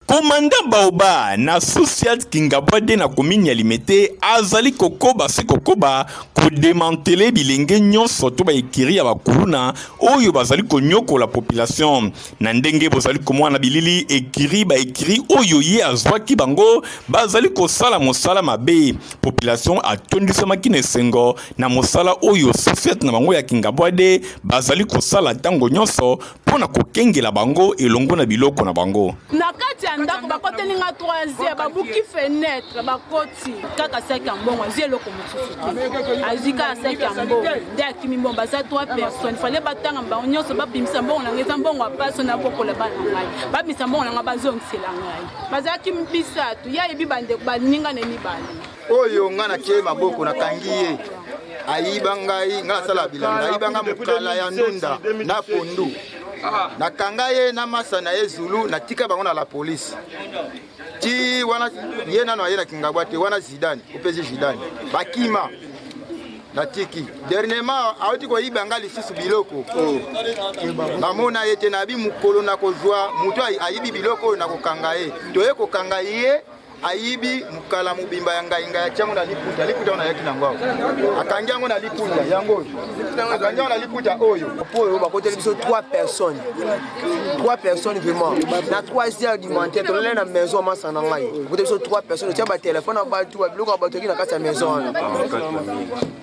Commandant Baoba na Sousiat Kingabwade na commune ya Limete azali kokoba se kokoba kodemantele bilenge nyonso to baekiri ya bakuluna oyo bazali konyokola population. Na ndenge bozali komona na bilili, ekiri baekiri oyo ye azwaki bango bazali kosala mosala mabe. Population atondisamaki na esengo na mosala oyo Sousiat na bango ya Kingabwade bazali kosala ntango nyonso mpo na kokengela bango elongo na biloko na bango. Na kati ya ndako bakoteli nga 3 babuki fenetre bakoti kaka saki ya mbongo azwi eloko mosusu te azwi kaka saki ya mbongo nde akimi mbongo baza 3 personne fale batanga bango nyonso babimisa mbongo na ngai eza mbongo ya paso na bokola bana ngai babimisa mbongo na ngai bazongisela ngai bazalaki misato ye ayebi bandeko baninga na ye mibale oyo nga natie maboko nakangi ye ayiba ngai nga asala bilanga ayiba nga mokala ya ndunda na pondu ah. nakanga ye na masa na ye zulu natika bango na la polise ti wana ye nano aye na kingabwa te wana zidane opesi zidane bakima natiki dernièrement awuti koyiba nga lisusu biloko oh. namona ye te nayebi mokolo nakozwa moto ayibi biloko oyo nakokanga ye toye kokanga ye ayibi mokala mobimba ya ngai ngai atia yango na liputa liputa oyo nayaki nango awa akangi yango na liputa yango oyo akangi yango na liputa oyo po oyo bakoteli biso 3 personnes 3 personnes vraiment na 3 heures du matin tolele na maison masa na ngai bakoteli biso 3 personnes otia batelefone ya bato babiloko ya bato eki na kati ya maison wana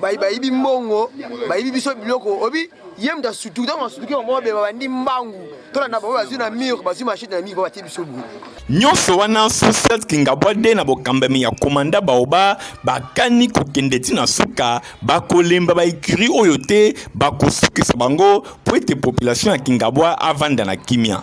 bayibi mbongo bayibi biso biloko obi ye moto asutuki ntango asutuki bango babeba bandi mbangu tolanda bango bazwi na mur bazwi machete na miko batie biso boye nyonso wana societe kingabwade na bokambami ya komanda baoba bakani kokende ti na suka bakolemba baecurie oyo te bakosukisa bango mpo ete population ya kingabwa avanda na kimia